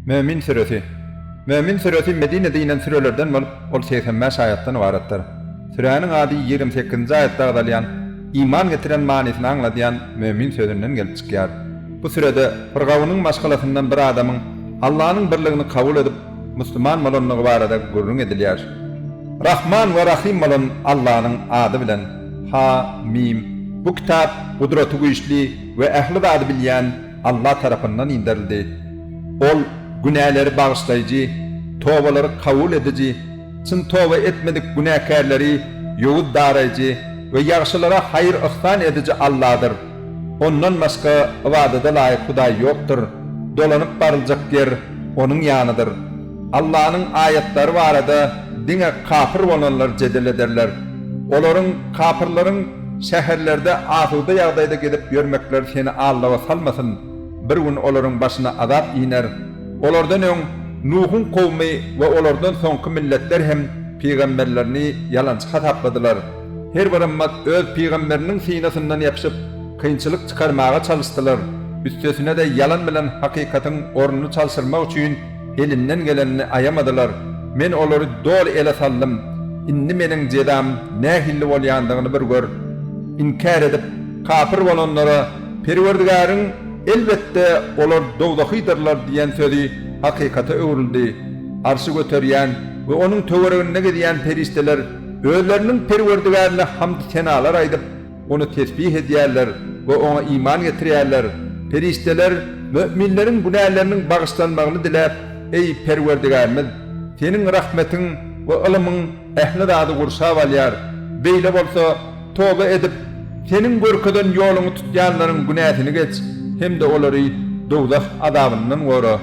Mömin süresi. Mömin süresi Medinede inen sürelerden bolup, ol segsen bäş aýatdan ybaratdyr. Süräniň ady ýigrimi sekizinji aýatda agzalýan, iman getiren manysyny aňladýan Mömin sözünden gelip çykýar. Bu sürede bir gawunyň maşgalasyndan bir adamyň Allanyň birligini kabul edip, musulman bolandygy barada gürrüň edilýär. Rahman we Rahym bolan Allanyň ady bilen. Ha-mim. Bu kitap, Gudraty güýçli. we ähli zady bilýän Alla tarapyndan inderildi. Ol günäleri bagyşlaýjy, tobalary kabul ediji, çyn toba etmedik günäkärleri ýowuz daraýjy we ýagşylara haýyr-yhsan ediji Alladyr. Ondan başga ybadada laýyk Hudaý ýokdur. Dolanyp baryljak ýer Onuň ýanydyr. Allanyň aýatlary barada diňe kapyr bolanlar jedel ederler. Olaryň, kapyrlaryň, Şäherlerde asuda ýagdaýda gezip ýörmekleri seni aldawa salmasyn, bir gün olaryň başyna azap iner. Olardan öň Nuhuň kowumy we olardan soňky milletler hem pygamberlerini ýalançy hasapladylar. Her bir ymmat öz pygamberiniň synasyndan ýapyşyp, kynçylyk çykarmaga çalyşdylar. Üstesine-de ýalan bilen hakykatyň ornuny çalşyrmak üçin Elinden gelenini aýamadylar. Men olary doly ele saldym. Indi meniň jezam nähilli bolýandygyny bir gör. Inkär edip, kapyr bolanlara Perwerdigäriň, Elbetde, olar dowzahydyrlar diýen sözi hakykata öwrüldi. Arşy göterýän we onuň töwereginde gezýän perişdeler özleriniň Perwerdigärine hamd-senalar aýdyp, Ony tesbih edýärler we Oňa iman getirýärler. Perişdeler möminleriň günäleriniň bagyşlanmagyny diläp, Eý, Perwerdigärimiz! Seniň rahmetiň we ylymyň ähli zady gurşap alýar. Beýle bolsa, toba edip, Seniň görkezen ýoluňy tutýanlaryň günäsini geç hem-de olary dowzah azabyndan gora.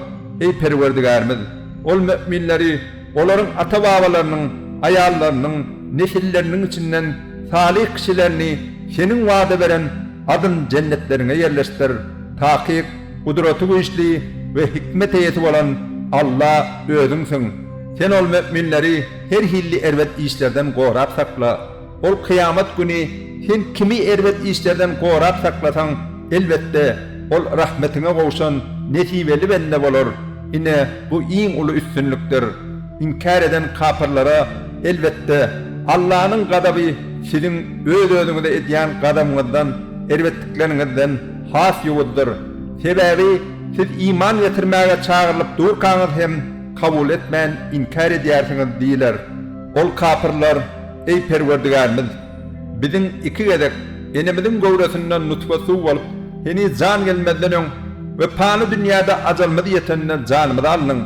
Eý, Perwerdigärimiz! Ol möminleri Olaryň ata-babalarynyň, aýallarynyň, nesilleriniň içinden salyh kişilerini Seniň wada beren adyn-jennetleriňe ýerleşdir. Takyk, Gudraty güýçli we hikmet eýesi bolan Alla Özüňsiň. Sen ol möminleri her hilli erbet işlerden gorap sakla. Ol kyýamat güni sen kimi erbet işlerden gorap saklasaň, elbetde, ol rahmetiňe gowşan nesibeli bende bolar. Ine, bu iň uly üstünlikdir. Inkär eden kapyrlara, elbetde, Allanyň gazaby siziň öz-özüňize edýän gazabyňyzdan, erbetlikleriňizden, has ýowuzdyr. Sebäbi siz iman getirmäge çagyrylyp durkaňyz hem kabul etmän inkär edýärsiňiz diýler. Ol, kapyrlar. Eý Perwerdigärimiz! Biziň iki gezek enemiziň göwresinden nutfa suw bolup, heniz jan gelmezden öň we pany dünýäde ajalymyz ýetende janymyzy aldyň,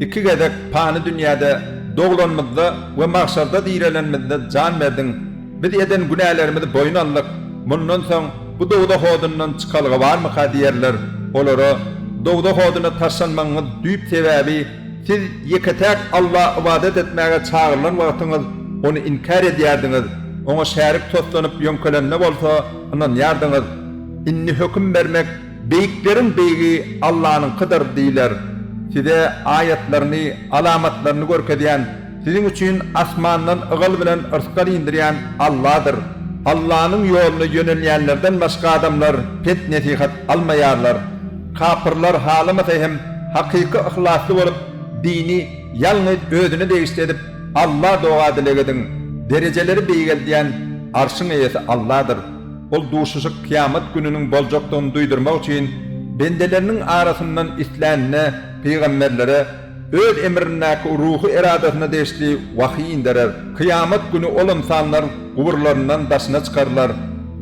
iki gezek pany dünýäde doglanymyzda we magşarda direlenimizde jan berdiň. Biz eden günälerimizi boýun aldyk. Mundan soň bu dowzah odundan çykalga barmyka diýerler. Olara, Dowzah oduna taşlanmagyňyz düýp sebäbi, Siz ýeke-täk Alla ybadat etmäge çagyrylan wagtyňyz ony inkär edýärdiňiz, oňa şärik toslanyp ýöňkelende bolsa ynanýardyňyz. Indi höküm bermek Beýikleriň Beýigi Allanyňkydyr diýler. Size aýatlaryny, alamatlaryny görkezýän Siziň üçin asmandan ygal bilen yrsgal indirýän Alladyr. Allanyň ýoluna ýönelýänlerden başga adamlar pet-nesihat almaýarlar. Kapyrlar halamasa hem hakyky yhlasly bolup, dini ýalňyz Özüne degişli edip, Alla doga-dileg ediň. Derejeleri beýgeldýän Arşyň eýesi Alladyr. Ol duşuşyk kyýamat gününiň boljakdygyny duýdurmak üçin bendeleriniň arasyndan islänine pygamberlere, Öz emrindäki ruhy eradasyna degişli wahyý inderer. Kyýamat güni ol ynsanlar guburlaryndan daşyna çykarylar.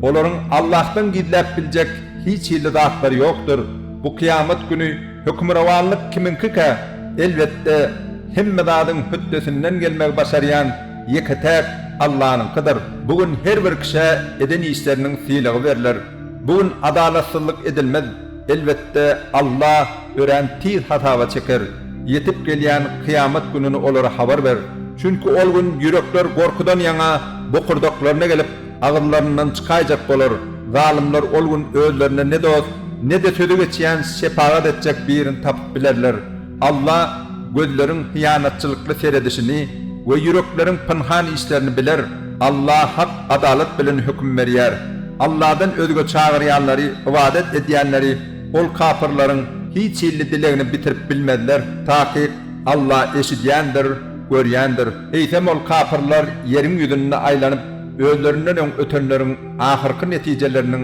Olaryň Allahdan gizläp biljek hiç hili zatlary ýokdur. Bu kyýamat güni hökmürowanlyk kimiňkikä? Elbetde, hemme zadyň hötdesinden gelmegi başarýan ýeke-täk Allanyňkydyr. Bu gün her bir kişä eden işleriniň sylagy berler. Bu gün adalatsyzlyk edilmez. Elbetde, Alla örän tiz hasaba çeker. Ýetip gelýän kyýamat gününi olara habar ber. Çünki ol gün ýürekler gorkudan ýaňa bokurdaklaryna gelip, agyzlaryndan çykaýjak bolar. Zalymlar ol gün özlerine ne dost, ne-de sözi geçýän şepagat etjek birini tapyp bilerler. Alla gözleriň hyýanatçylykly seredişini we ýürekleriň pynhan işlerini biler, Alla hak adalat bilen höküm berýär. Alladan özge çagyrýanlary, ybadat edýänleri, Ol kapyrlaryň hiç hilli dilegini bitirip bilmezler, takyk, Alla eşidýändir, görýändir. Eýsem Ol kapyrlar ýeriň ýüzünde aýlanyp, özlerinden öň ötenleriň ahyrky netijeleriniň,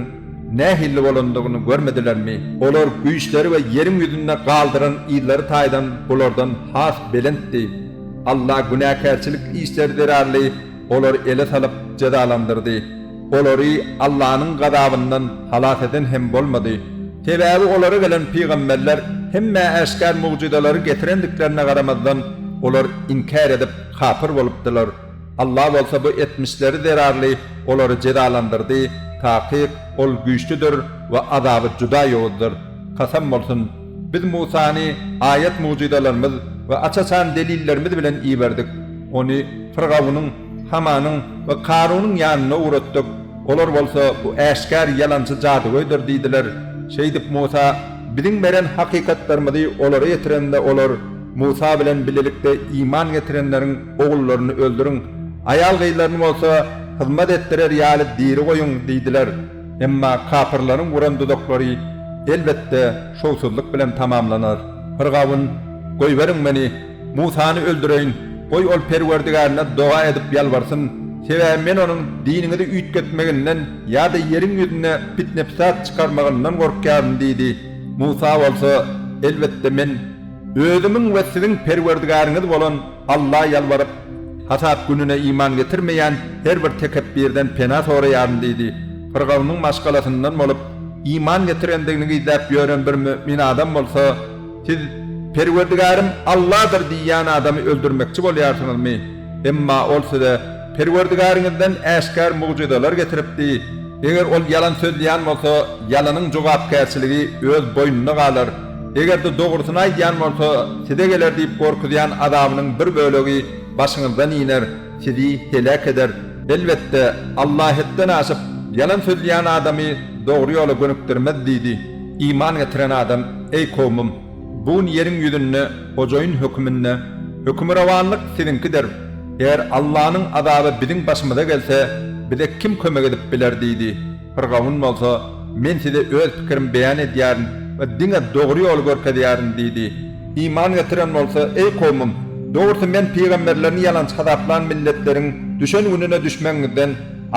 Nähilli bolandygyny görmedilermi? Olar güýçleri we ýeriň ýüzünde galdyran yzlary taýdan bulardan has belentdi. Alla günäkärçilik işleri zerarly olary ele salyp jezalandyrdy. Olary Allanyň gazabyndan halas eden hem bolmady. Sebäbi olara gelen pygamberler hemme äşgär mugjyzalary getirendiklerine garamazdan, olar inkär edip, kapyr bolupdylar. Allah bolsa bu etmişleri zerarly olary jezalandyrdy, takyk, Ol güýçlüdir we azaby juda ýowuzdyr. Kasam bolsun! Biz Musany aýat-mugjyzalarymyz we aç-açan delillerimiz bilen iberdik. Ony Fyrgawunyň, Hamanyň we Karunyň ýanyna ugratdyk. Olar bolsa, Bu äşgär ýalançy jadygöýdür diýdiler. Şeýdip, Musa Biziň beren hakykatlarymyzy olara ýetirende olar, Musa bilen bilelikde iman getirenleriň, Ogullaryny öldüriň, aýal-gyzlaryny bolsa hyzmat etdirer ýaly diri goýuň diýdiler. Emma kapyrlaryň guran duzaklary, elbetde, şowsuzlyk bilen tamamlanar. Fyrgawun, Goýberiň meni, Musany öldüreýin, goý, ol Perwerdigärine doga edip ýalbarsyn, sebäbi men onuň diniňizi üýtgetmeginden ýa-da ýeriň ýüzünde pitne-pytat çykarmagyndan gorkýaryn diýdi. Musa bolsa, Elbetde, men Özümiň we siziň Perwerdigäriňiz bolan Alla ýalbaryp, hasap gününe iman getirmeýän her bir tekepbirden pena soraýaryn diýdi. Pyrgawnyň maşgalasyndan bolup, iman getirendigini gizläp ýören bir mümin adam bolsa, Siz, Perwerdigärym Alladyr diýýän adamy öldürmekçi bolýarsyňyzmy? Emma ol size, Perwerdigäriňizden äşgär mugjyzalar getiripdi, eger ol ýalan sözleýän bolsa, ýalanyň jogapkärçiligi öz boýnuna galar, eger-de dogrusyny aýdýan bolsa, size geler diýip gorkuzýan azabynyň bir bölegi başyňyzdan iner, sizi heläk eder. Elbetde, Alla hetden aşyp, ýalan sözleýän adamy dogry ýola gönükdirmez diýdi. Iman getiren adam, eý kowmym! Bu gün ýeriň ýüzünde hojaýyn höküminde hökmürowanlyk siziňkidir. Eger Allanyň azaby biziň başymyza gelse, bize kim kömek edip biler? diýdi. Pyrgawun bolsa, Men size öz pikirimi beýan edýärin we diňe dogry ýoly görkezýärin diýdi. Iman getiren bolsa, Eý kowmym! Dogrusy Men pygamberlerini ýalançy hasaplan milletleriň düşen gününe düşmegiňizden,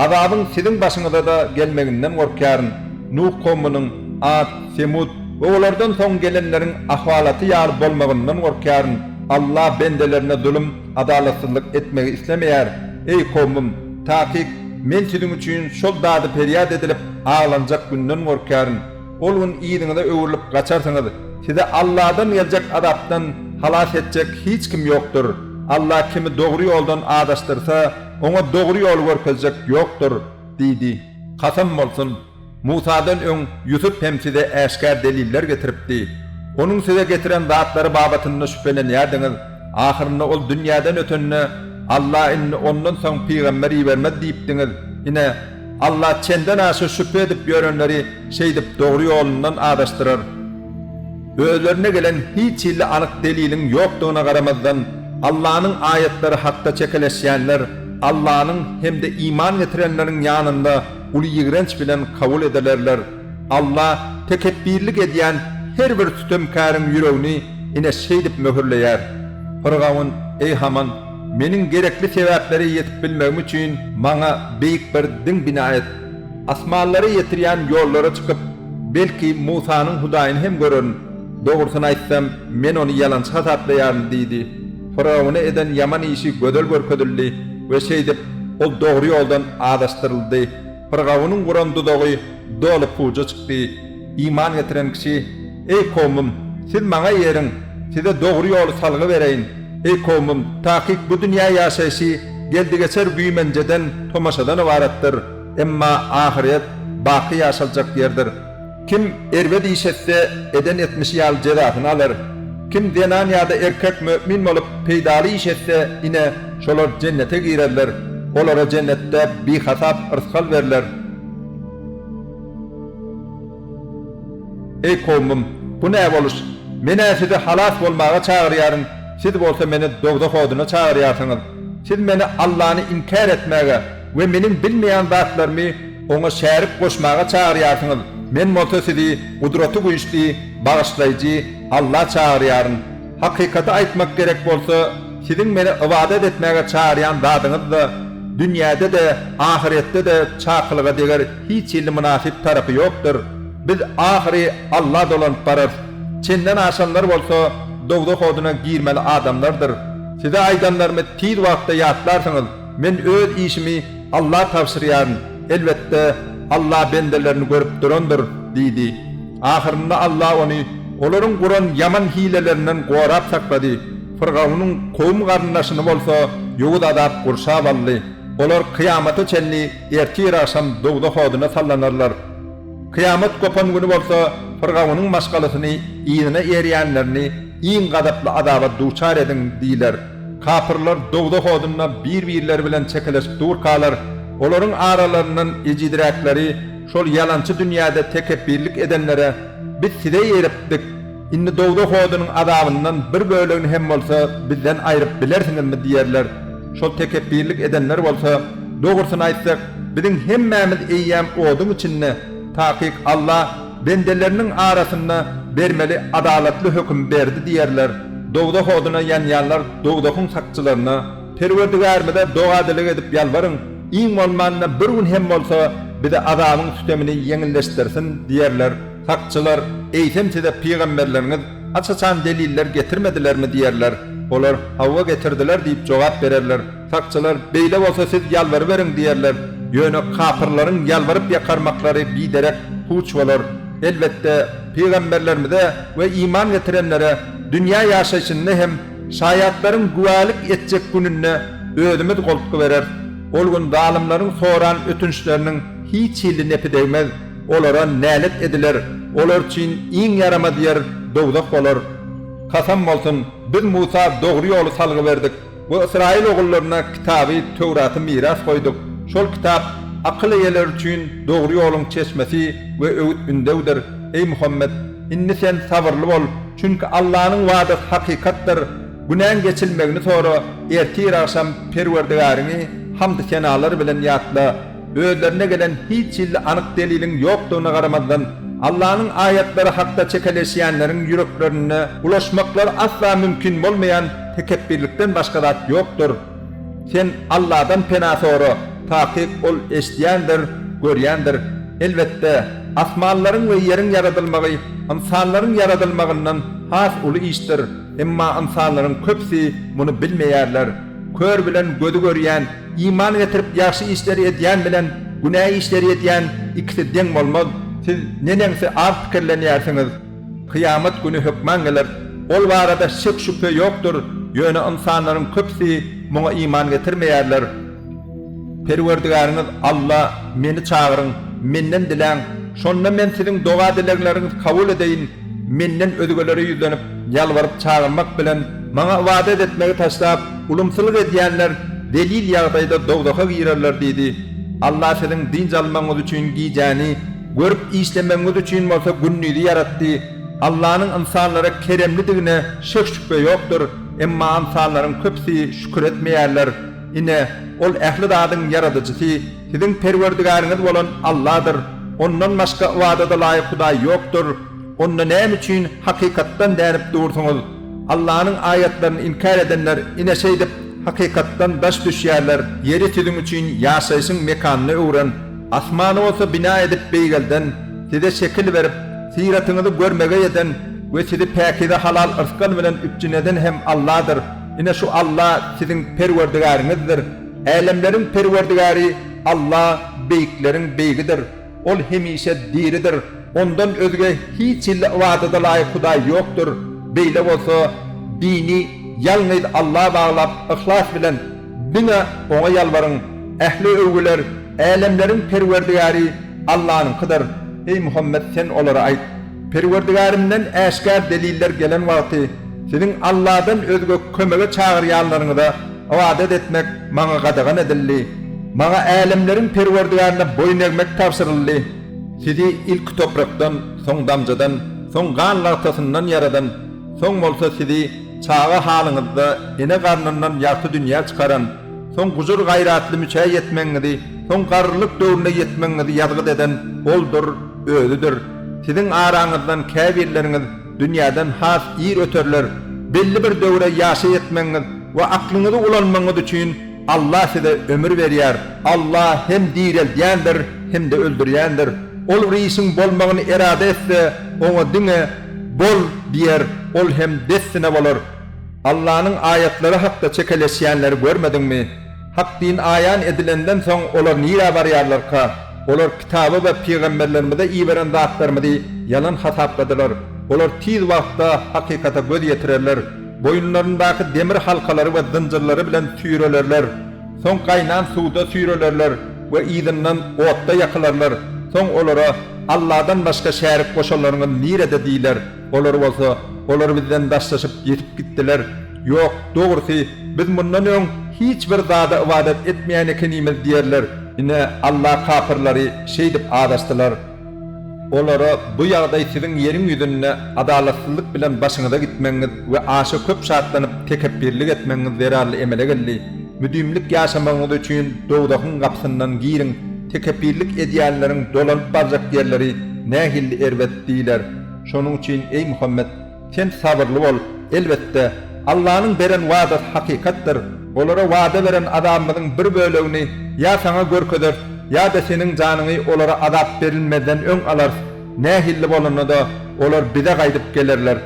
azabyň siziň başyňyza-da gelmeginden gorkýaryn. Nuh kowmunyň, At, Semut, We olardan soň gelenleriň ahwalaty ýaly bolmagyndan gorkýaryn. Alla bendelerine zulum, adalatsyzlyk, etmegi islemeýär. Eý, kowmum! Takyk, Men siziň üçin şol dady perýat edilip, aglanjak günden gorkýaryn. Ol gün yzyňyza öwrülip gaçarsyňyz. Sizi Alladan geljek azapdan halas etjek hiç kim ýokdur. Alla kimi dogry ýoldan azaşdyrsa, oňa dogry ýoly görkezjek ýokdur. Diýdi. Kasam bolsun! Musadan öň Ýusup hem size äşgär deliller getiripdi. Onuň size getiren zatlary babatynda şübhelenýärdiňiz, ahyrynda ol dünýäden ötende, Alla indi ondan soň pygamber ibermez diýipdiňiz. Ine, Alla çenden aşa şübhe edip ýörenleri şeýdip dogry ýolundan azaşdyrar. Özlerine gelen hiç hilli anyk deliliň ýokdugyna garamazdan, Allanyň aýatlary hakda çekeleşýänler Allanyň hem-de iman getirenleriň ýanynda uly ýigrenç bilen kabul edilerler. Alla tekepbirlik edýän her bir sütemkäriň ýüregini ine şeýdip möhürleýär. Pyrgaun, Eý Haman, meniň gerekli sebäplere ýetip bilmegim üçin maňa beýik bir diň bina et. Asmanlara ýetirýän ýollara çykyp, belki, Musanyň Hudaýyny hem görerin. Dogrusyny aýtsam, men ony ýalançy hasaplaýaryn diýdi. Firawuna eden ýaman işi gözel görkezildi we şeýdip, ol dogry ýoldan azaşdyryldy. Firgawunyň guran duzagy doly puja çykdy. Iman getiren kişi, Eý, kowmym, siz maňa eriň, size dogry ýoly salgy bereýin. Eý, kowmym, takyk bu dünýä ýaşaýşy geldi-geçer güýmenjeden, tomaşadan ybaratdyr, emma ahyret baky ýaşaljak ýerdir. Kim erbet iş etse, eden etmişi ýaly jezasyny alar. Kim zenan ýa-da erkek mömin bolup, peýdaly iş etse, ine, şolar jennete girerler. Olara jennetde bihasap yrsgal berler. Eý kowmym! Bu ne boluş? Men-ä sizi halas bolmaga çagyrýaryn, siz bolsa meni dowzah oduna çagyrýarsyňyz. Siz meni Allany inkär etmäge, we meniň bilmeýän zatlarymy oňa şärik goşmaga çagyrýarsyňyz, men bolsa sizi Gudraty Güýçli, Bagyşlaýjy Alla çagyrýaryn. Hakykaty aýtmak gerek bolsa, siziň meni ybadat etmäge çagyrýan zadyňyzda, dünýäde-de, ahyretde-de çakylyga deger hiç hili mynasyp tarapy ýokdur. Biz ahyry Alla dolanyp bararys. Çenden aşanlar bolsa dowzah oduna girmeli adamlardyr. Size aýdanlarymy tiz wagtda ýatlarsyňyz. Men öz işimi Alla tabşyrýaryn, elbetde, Alla bendelerini görüp durandyr diýdi. Ahyrynda Alla ony olaryň guran ýaman hilelerinden gorap saklady. Fyrgawnyň kowum-garyndaşyny bolsa ýowuz azap gurşap aldy. Olar kyýamata çenli ertir-agşam dowzah oduna sallanarlar. Kyýamat gopan güni bolsa Fyrgawnyň maşgalasyny yzyna erýänlerini iň gazaply azaba duçar ediň diýler. Kapyrlar dowzah odunda bir-birleri bilen çekeleşip durkalar, olaryň aralaryndan ejiziräkleri şol ýalançy dünýäde tekepbirlik edenlere, Biz size ýeripdik, indi dowzah odunyň azabyndan bir bölegini hem bolsa bizden aýryp bilersiňizmi? diýerler. Şol tekepbirlik edenler bolsa, Dogrusyny aýtsak, biziň hemmämiz eýýäm oduň içinde, takyk Alla, Bendeleriniň arasynda bermeli adalatly höküm berdi diýerler, dowzah oduna ýanýanlar dowzahyň sakçylaryna, Perwerdigärimize doga-dileg edip ýalbaryň, iň bolmanda bir gün hem bolsa bize azabyň sütemini ýeňilleşdirsin diýerler, sakçylar, Eýsem size pygamberleriňiz haç-haçan deliller getirmedilermi diýerler, olar, Hawa getirdiler diýip jogap bererler. Sakçylar, Beýle bolsa siz ýalbaryberiň diýerler. Ýöne kapyrlaryň ýalbaryp ýakarmaklary biderek puç bolar. Elbetde, pygamberlerimize we iman getirenlere dünýä ýaşaýşynda hem şaýatlaryň güwälik etjek gününde Özümiz goltgy bereris. Ol gün zalymlaryň soran ötünçleriniň hiç hili nepi degmez. Olara nälet ediler. Olar üçin iň ýaramaz ýer dowzah bolar. Kasam bolsun, biz Musa dogry ýoly salgy berdik. Bu Ysraýyl ogullaryna kitaby Töwraty miras goýduk. Şol kitap akyl eýeleri üçin dogry ýoluň çeşmesi we öwüt-ündewdir. Eý Muhammet! Indi sen sabyrly bol, çünki Allanyň wadasy hakykatdyr. Günäň geçilmegini sora, ertir-agşam Perwerdigäriňi hamdy-senalar bilen ýatla. Özlerine gelen hiç hilli anyk deliliň ýokdugyna garamazdan, Allanyň aýatlary hakda çekeleşýänleriň ýüreklerinde bulaşmaklary asla mümkin bolmaýan tekepbirlikden başga zat ýokdur. Sen Alladan pena sora, takyk Ol eşidýändir, görýändir. Elbetde, asmanlaryň we ýeriň ýaradylmagy ynsanlaryň ýaradylmagyndan has uly işdir, emma ynsanlaryň köpüsi muny bilmeýärler. Kör bilen gözi görýän, iman getirip ýagşy işleri edýän bilen günä işleri edýän ikisi deň bolmaz. Siz neneňsi az pikirlenýärsiňiz? Kyýamat güni hökman geler. Ol barada şek-şübhe ýokdur, ýöne ynsanlaryň köpüsi muňa iman getirmeýärler. Perwerdigäriňiz Alla, Meni çagyryň, Menden diläň, şonda Men siziň doga-dilegleriňizi kabul edeýin. Menden özgelere ýüzlenip, ýalbaryp-çagyrmak bilen Maňa ybadat etmegi taşlap, ulumsylyk edýänler zelil ýagdaýda dowzaha girerler diýdi. Allah siziň dynç almagyňyz üçin gijäni, görüp işlemegiňiz üçin bolsa gündizi ýaratdy. Allanyň ynsanlara keremlidigine şek-şübhe ýokdur, emma ynsanlaryň köpüsi şükür etmeýärler. Ine, Ol ähli zadyň Ýaradyjysy. Siziň Perwerdigäriňiz bolan Alladyr, Ondan başga ybadada laýyk hudaý ýokdur. Onda näme üçin hakykatdan dänip dursuňyz? Allanyň aýatlaryny inkär edenler ine şeýdip, hakykatdan daş düşýärler. Ýeri siziň üçin ýaşaýşyň mekanyna öwren, asmany bolsa bina edip beýgelden, size şekil berip, syratyňyzy görmegeý eden we sizi päkize halal yrsgal bilen üpjün eden hem Alladyr. Ine şu Alla siziň Perwerdigäriňizdir. Älemleriň Perwerdigäri Alla beýikleriň Beýigidir. Ol hemişe diridir. Ondan özge hiç hili ybadada laýyk Hudaý ýokdur. Beýle bolsa, dini ýalňyz Alla baglap, yhlas bilen diňe Oňa ýalbaryň. Ähli öwgüler Älemleriň Perwerdigäri Allanyňkydyr. Eý Muhammet, sen olara aýt, Perwerdigärimden äşgär deliller gelen wagty, siziň Alladan özge kömege çagyrýanlaryňyza, Ybadat etmek Maňa gadagan edildi. Maňa älemleriň Perwerdigärine boýun egmek tabşyryldy. Sizi ilki toprakdan, soň damjadan, soň gan lagtasyndan ýaradan, soň bolsa sizi çaga halyňyzda ene garnyndan ýagty dünýä çykaran, soň gujur-gaýratly müçä ýetmegiňizi, soň garrylyk döwrüne ýetmegiňizi ýazgyt eden Oldur, Özüdir. Siziň araňyzdan käbirleriňiz. Dünýäden has ir öterler. Belli bir döwre ýaşa ýetmegiňiz we aklyňyzy ulanmagyňyz üçin Allah size ömür berýär. Allah hem direldýändir, hem-de öldürýändir. Ol bir işiň bolmagyny erada etse, oňa diňe, Bol! diýer, ol hem dessine bolar. Allanyň aýatlary hakda çekeleşýänleri görmediňmi? Hak din aýan edilenden soň olar nirä barýarlarka? Olar Kitaba we pygamberlerimize iberen zatlarymyzy ýalan hasapladylar. Olar tiz wagtda hakykata göz ýetirerler. Boýunlaryndaky demir halkalary we zynjyrlary bilen süýrelerler. Soň gaýnan suwda süýrelerler we yzyndan otda ýakylarlar. Soň olara, Alladan başga şärik goşanlaryňyz nirede? diýler. Olar bolsa, Olar bizden daşlaşyp ýitip gitdiler. Ýok, dogrusy, biz mundan öň hiç bir zada ybadat etmeýän ekenimiz diýerler. Ine, Alla kapyrlary şeýdip azaşdylar. Olara, Bu ýagdaý siziň ýeriň ýüzünde adalatsyzlyk bilen başyňyza gitmegiňiz we aşa köp şatlanyp tekepbirlik etmegiňiz zerarly emele geldi. Müdimlik ýaşamagyňyz üçin dowzahyň gapysyndan giriň, tekepbirlik edýänleriň dolanyp barjak ýerleri nähilli erbet! diýler. Şonuň üçin, eý Muhammet, sen sabyrly bol. Elbetde, Allanyň beren wadasy hakykatdyr. Olara wada beren azabymyzyň bir bölegini ýa saňa görkezeris, ýa-da seniň janyňy olara azap berilmezden öň alarys. Nähilli bolanda-da, olar Bize gaýdyp gelerler.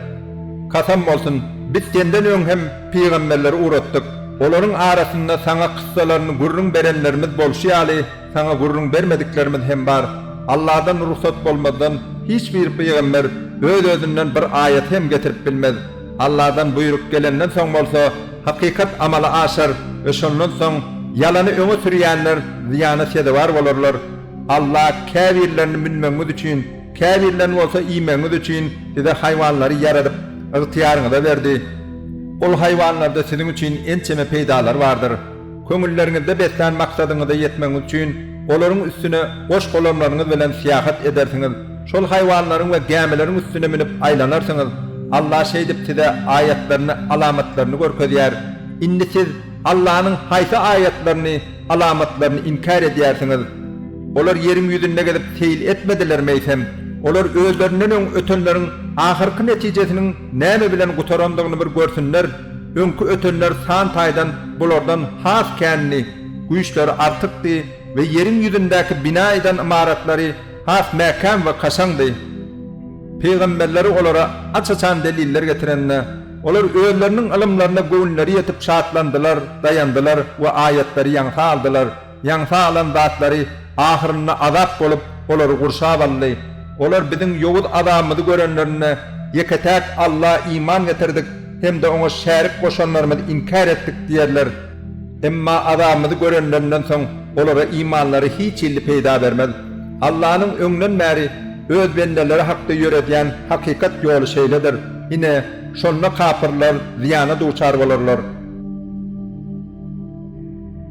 Kasam bolsun, Biz senden öň hem pygamberleri ugratdyk. Olaryň arasynda saňa kyssalaryny gürrüň berenlerimiz bolşy ýaly, Saňa gürrüň bermediklerimiz hem bar. Alladan rugsat bolmazdan hiç bir pygamber öz-özünden bir aýaty hem getirip bilmez. Alladan buýruk gelenden soň bolsa, hakykat amala aşar we şondan soň ýalany öňe sürýänler zyýana sezewar bolarlar. Alla käbirlerini münmegiňiz üçin, käbirlerini bolsa iýmegiňiz üçin size haýwanlary ýaradyp, ygtyýaryňyza berdi. Ol haýwanlarda siziň üçin ençeme peýdalar bardyr. Köňülleriňizde beslän maksadyňyza ýetmegiňiz üçin olaryň üstüne goş-golamlaryňyz bilen syýahat edersiňiz, şol haýwanlaryň we gämileriň üstüne münüp aýlanarsyňyz. Alla şeýdip size aýatlaryny, alamatlaryny görkezýär. Indi siz Allanyň haýsy aýatlaryny, alamatlaryny inkär edýärsiňiz? Olar ýeriň ýüzünde gezip seýil etmedilermi eýsem? Olar özlerinden öň ötenleriň ahyrky netijesiniň näme bilen gutarandygyny bir görsünler! Öňki ötenler san taýdan bulardan has kändi, güýçleri artykdy we ýeriň ýüzündäki bina eden ymaratlary has mäkäm we kaşaňdy. Pygamberleri olara aç-açan deliller getirende, olar özleriniň ylymlaryna göwünleri ýetip şatlandylar, daýandylar we aýatlary ýaňsa aldylar. Ýaňsa alan zatlary ahyrynda azap bolup, olary gurşap aldy. Olar biziň ýowuz azabymyzy görenlerinde, Ýeke-täk Alla iman getirdik hem-de Oňa şärik goşanlarymyzy inkär etdik diýerler. Emma azabymyzy görenlerinden soň olara imanlary hiç hilli peýda bermez. Allanyň öňden bäri Öz bendeleri hakda ýöredýän hakykat ýoly şeýledir. Ine, şonda kapyrlar zyýana duçar bolarlar.